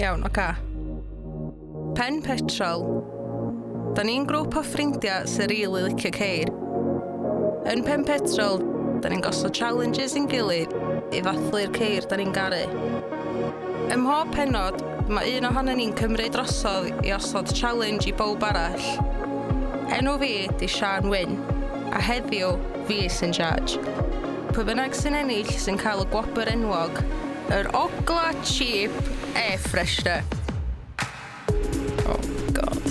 Iawn, oce. Pen petrol. Da ni'n grŵp o ffrindiau sy'n rili licio ceir. Yn pen petrol, da ni'n gosod challenges i'n gilydd i ddathlu'r ceir da ni'n garu. Ym mhob penod, mae un ohono ni'n cymryd drosodd i osod challenge i bawb arall. Enw fi di Sian Wyn, a heddiw fi sy'n charge. Pwy bynnag sy'n ennill sy'n cael y gwobr enwog, yr Ogla Cheap Air Freshener. Oh God.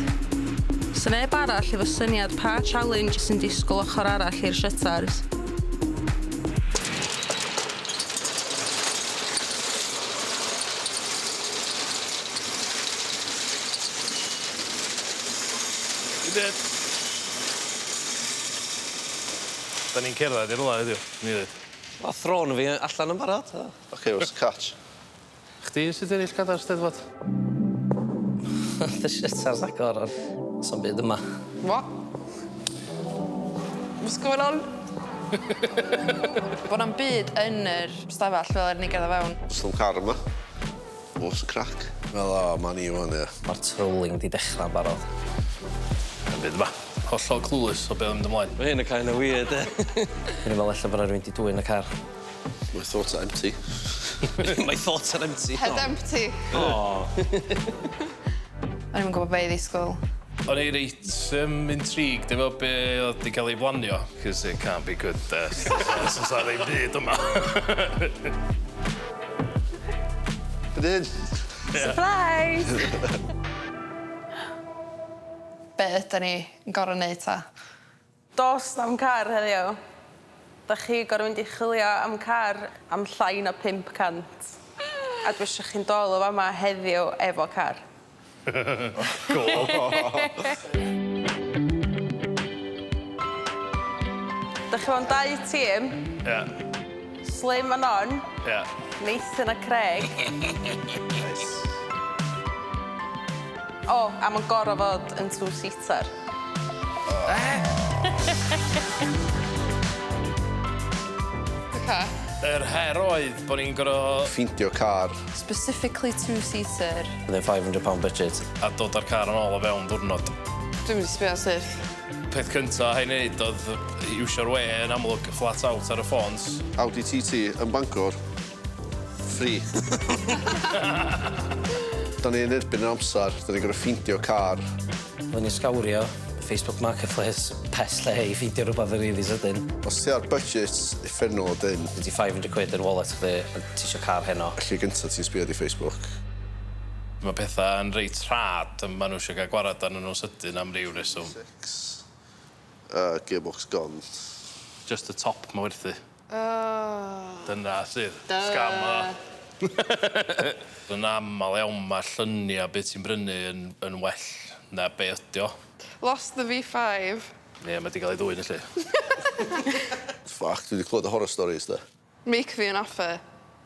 Sa neb arall efo syniad pa challenge sy'n disgwyl ochr arall i'r shutters. Good. 'Dan ni'n cerddad i rwla heddiw, yn wir. Ma' thrôn fi allan yn barod so. Ocê where's the catch? Chdi sy 'di ennill cadair Steddfod. Dy shit ar Zagor a sa'm byd yma. What? What's going on? Bo' na'm byd yn yr stafell fel 'yn ni gerddad fewn. Sa'm car yma. What's the crack? Wel o 'ma ni ŵan ia. Ma'r trolling 'di dechra'n barod. Dim byd yma. Hollol clueless o be' o'dd mynd ymlaen. Ma' hyn yn kinda weird 'de? O'n i'n me'wl ella bo' 'na rywun 'di dwyn y car. My thoughts are empty. My thoughts are empty. Head empty. O! O'n i'm yn gwbo be' i ddisgwl. O'n i reit yym intrigued efo be' o'dd 'di ca'l ei blanio. 'Cos it can't be good 'de? Os o's 'a ddim byd yma. Fan 'yn. Sypreis! Be' ydan ni yn gor'o' neud 'ta? Do's na'm car heddiw. 'Dach chi gor'o' mynd i chwilio am car am llai na pump cant a dwi isio chi'n dol o fama heddiw efo car. Dach chi mewn dau tîm. Ia. Slim a Non. Ia. Nathan a Craig. Neis. O, a ma'n gor'o' fod yn two-seater. Oce. Yr her oedd bo' ni'n gor'o'... Ffeindio car. Specifically two seater. Within five hundred pound budget. A dod â'r car yn ôl o fewn diwrnod. Dwi'm wedi sbio ar syrth. Peth cynta ai neud oedd iwsio'r we yn amlwg, flat out ar y ffôns. Audi TT yn Bangor. Free. Da ni yn erbyn yr amser, da ni'n gorfod ffeindio car. Rwy'n ysgawrio Facebook Marketplace pest lle i ffeindio rhywbeth yn rili sydyn. Os ti ar budget, uffernol o dynn. Gen ti five hundred quid yn wallet chdi a ti isio car heno. Y lle gynta ti'n sbio ydi Facebook. Mae pethau yn reit rhad a maen nhw isio cael gwared arnyn nhw'n sydyn am ryw reswm. Six. Gearbox gone. Just y top mae werthu. Ahh. Dyna sydd. Duh. Scam odd o. Yn amal iawn ma llunia be ti'n brynu yn yn well na be ydi o. Lost the V five. Ie ma di gal ei ddwyn yli. Ffyc dwi di clwad y horror stories de. Make me an offer.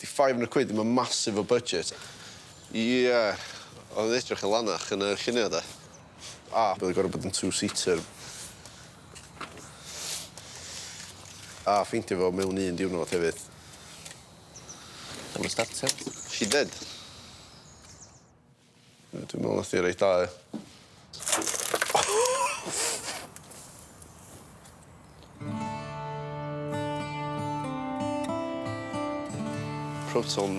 Di five hundred quid ddim yn massive o budget. Ie, oedd o'n edrych yn lanach yn y lluniau de. A, bydd o'n gorfod bod yn two-seater. A, ffeindio fo mewn un diwrnod hefyd. Dyma starter. She did. Yy dwi me'wl nath 'i reit dda yy. Proton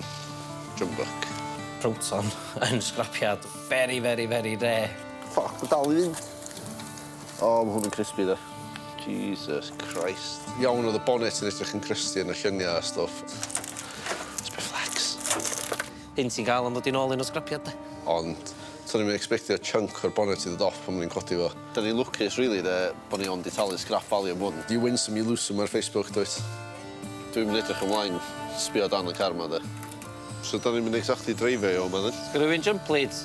drum buck. Proton yn sgrapiad very very very rare. Ffyc ma' dal i fynd. O ma' hwn yn crispy 'de. Jesus Christ. Iawn o'dd y bonnet yn edrych yn crusty yn y llynia a stwff. Sbia flex. Hyn sy'n cael am ddod i nôl un o sgrapiad de. Ond to'n i'm yn ecsbectio chunk o'r bonnet i ddod off pan o'n i'n codi fo. Dyn ni'n lwcus rili de bo ni ond di talu sgrap value am hwn. You win some you lose some ar Facebook dwyt? Dwi'm yn edrych ymlaen sbio dan y car ma de. So da ni'm yn exactly dreifio i o ma dwyt? Sgyno fi'm jump leads.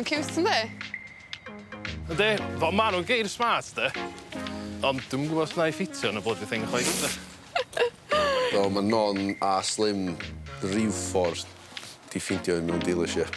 Mae'n ciwt, ynddi? Ynddi. Fel ma' nhw'n geir smart, de. Ond dwi'm yn gwybod os wna i ffitio yn y bloody thing chwaith, de. Do, mae Non a Slim ryw ffordd 'di ffeindio un mewn dealership.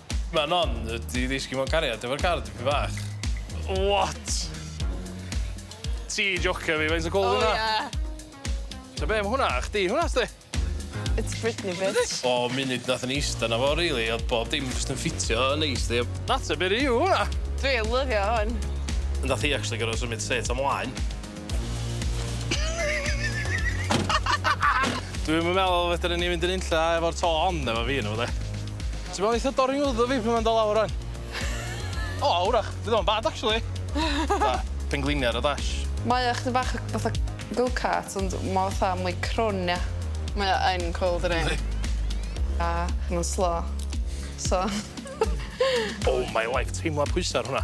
Mae Non wedi ddisgyn mewn cariad efo'r car dipyn bach. What? Ti jocio fi, faint o cwl yw hwnna? O ie. Ta be, ma' hwnna a chdi, hwnna sdi. It's Britney bitch. O munud nath ni ista na fo rili o'dd bob dim jyst yn ffitio yn neis di. Natur byr yw hwnna. Dwi yn lyfio hwn. Nath hi actually gor'o' symud set o mlaen. Dwi'm yn meddwl fedrwn ni fynd yn unlla efo'r to hon efo fi ynddo fo 'de. Ti me'wl neith o dorri wddw fi pan ma'n do' lawr rŵan? O 'w'rach fydd o'm bad actually. Fatha pengliniar a dash. Mae o chydig bach fatha go-cart ond ma' o fatha mwy crwn ia? Mae o yn cwl dydi? Yndi. A ma'n slo so. Oh my life teimlo pwysa ar hwnna.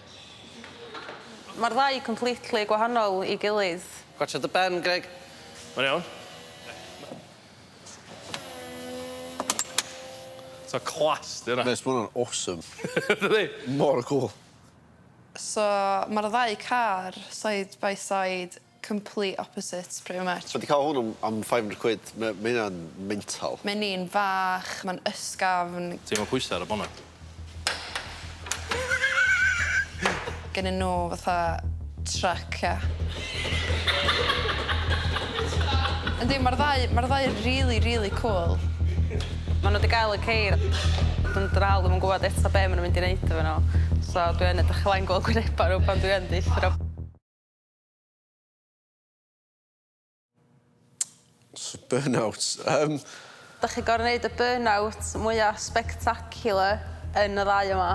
Mae'r ddau completely gwahanol i gilydd. Gwatsiad dy ben, Greg. Mae'n iawn. So class 'di hwnna. Mês, ma' hwnna'n awesome. Dydi? Mor cwl. So ma'r ddau car side by side. Complete opposite pretty much. Dwi 'di ca'l hwn am am five hundred quid ma' ma' hynna'n mental. Mae'n un fach, mae'n ysgafn. Ti efo pwysa ar y bonnet? Gennyn nw fatha truck ia? Yndi ma'r ddau ma'r ddau yn rili rili cŵl. Ma' nw 'di ga'l y ceir. Dwi'm dal ddim yn gwbod eto be' ma' nw mynd i neud efo nw so dwi yn edrych ymlaen gweld gwyneba n'w pan dwi yn deutho n'w. Burnout. Um... Da chi gorau wneud y burnout mwyaf spectacular yn y ddau yma?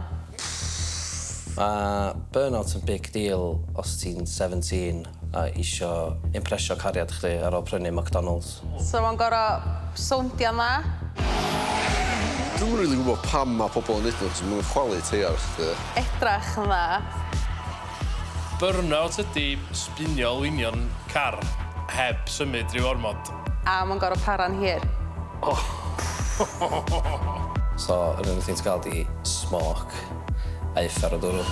Mae burnout yn big deal os ti'n 17 a isio impresio cariad chdi ar ôl prynu McDonalds. So mae'n gorau soundio'n dda? Dwi'm yn rili gwybod pam mae pobl yn neud nhw, achos maen nhw'n chwalu teiar chdi. Edrach yn dda. Burnout ydi sbinio lwynio'n car heb symud ryw ormod. A mae'n gorfod para'n hir. Ohh. So yr unig thing ti'n cael ydi smoc a uffar o dwrw.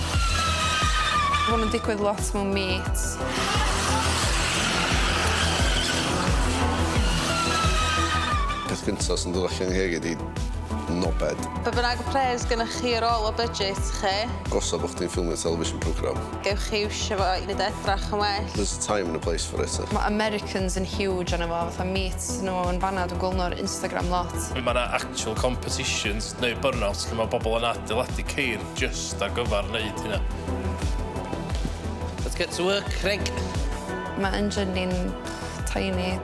Mae hwn yn digwydd lot mewn meets. Peth gynta sy'n dod allan i ngheg i ydi nobed. Be bynnag pres gynnoch chi ar ôl y budget chi. Os a bod chdi'n ffilmio television programme. Gewch chi iwsio fo i neud o edrach yn well. There's a time and a place for it. Mae Americans yn huge arno fo, fatha meet nhw yn fan'na, dwi'n gweld nhw ar Instagram lot. Mae 'na actual competitions neu burnouts lle mae pobl yn adeiladu ceir jyst ar gyfer wneud hynna. Let's get to work, Craig! Mae engine ni'n Tiny.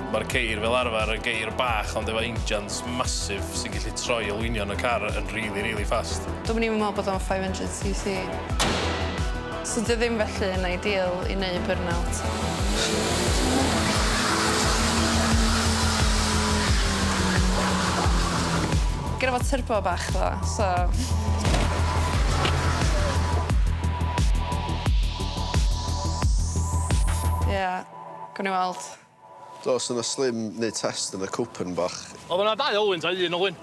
Mae'r ceir fel arfer yn geir bach ond efo injans massive sy'n gallu troi olwynion y car yn rili rili fast. Dw'm yn even meddwl bod o'n 500 cc. So 'di o ddim felly yn ideal i neud burnout. Gynno fo turbo bach ddo so. Gawn ni weld. Do, so nath Slim neud test yn y Copen bach. O'dd yna dau olwyn ta un olwyn?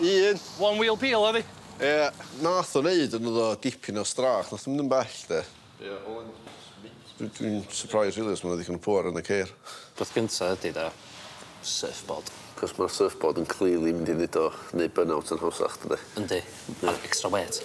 Un. One wheel peel oedd 'i? Ia. Nath o neud yn iddo dipyn o strâch, nath o mynd yn bell de. Ia, olwyn sbint. Dwi dwi'n surprised rili os ma' 'na ddigon o pŵer yn y ceir. Peth gynta ydi de, surfboard. Cos ma'r surfboard yn clearly mynd i neud o neud burnout yn hawsach dydi? Yndi. A'r extra weight.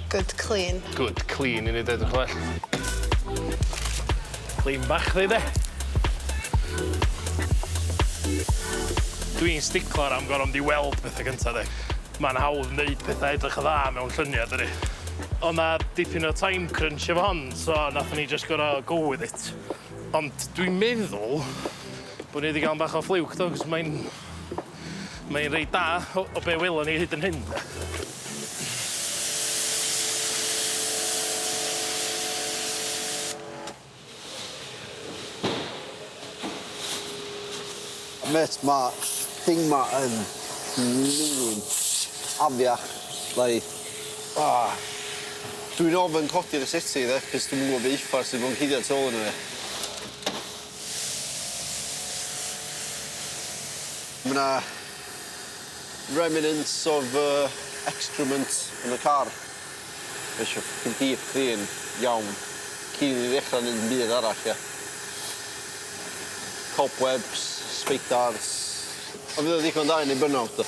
Good clean. Good clean i ni deud y gwell. Clean bach chdi 'de? Dwi'n sticlar am gor'o' mynd i weld pethe gynta 'de. Ma'n hawdd neud petha edrych yn dda mewn llunia' dydi? O' 'na dipyn o time crunch efo hon so nathon ni jyst gor'o' go with it. Ond dwi'n meddwl bo' ni 'di ga'l 'n bach o fluke do 'c'os mae'n Mae e'n reit da o o be' welon ni hyd yn hyn de. Mêt ma' thing ma' yn miliwn afiach nai ah dwi'n ofyn codi ar y settee de 'c'os dwi'm yn gwbo be' uffar sy' mewn cuddiad tu ôl yno fe. Ma' 'na remnants of yy excrement yn y car. Mae isio ffycin deep clean iawn cyn i ni ddechra neud dim byd arall ia? Cobwebs, sbeidars. Ond fydd o'n ddigon da i neud burnout do?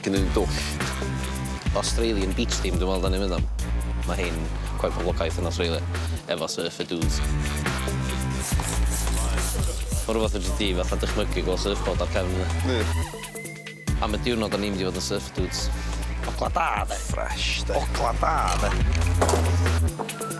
Gynnon ni dwll. Australian beach theme dwi me'wl 'dan ni'n mynd am. Ma' rhein cweit poblogaeth yn Australia efo surfer dudes. Ma' rwbath fedri di fatha dychmygu gwel' surfboard ar cefn yna. Ie. Am y diwrnod 'dan ni mynd i fod yn surfer dudes. Ogla da 'de? Fresh 'de? Ogla da 'de?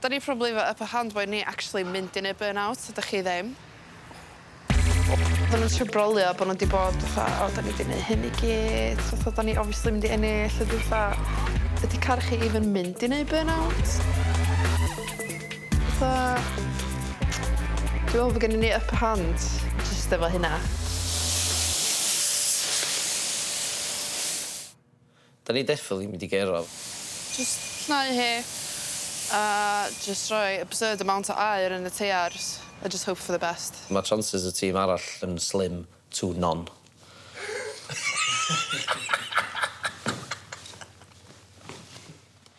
Da ni probably efo upper hand boed ni actually mynd i neud burnout ydych chi ddim. Odda nw'n trio brolio bo' nw 'di bod fatha o 'dan ni 'di neu' hyn i gyd fatha 'dan ni obviously mynd i ennill a dwi fatha ydi car chi even mynd i neu' burnout? Fatha dwi me'wl bo' gennyn ni upper hand jyst efo hynna. Da ni definitely mynd i gero. Jyst llnau hi a jyst rhoi absurd amount o aer yn y teiars a jyst hope for the best. Mae chances y tîm arall yn slim to none.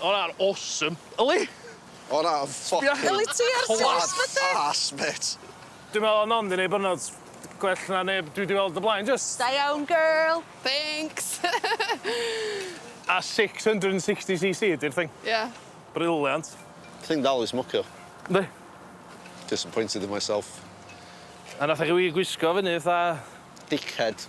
O na, awesome. Yli? O na, ffocin... Sbia... Yli ti ar Twitch bydde? Twat arse, mêt. Dwi'n meddwl o'n ond i neud byrnod gwell na neb dwi 'di weld o blaen, jyst. Da iawn, girl. Thanks! A 660cc ydi'r thing? Ie. Brilliant. Ti'n dal i smocio? Yndi. Disappointed in myself. A nath e chi wir gwisgo fyny fatha... Dickhead.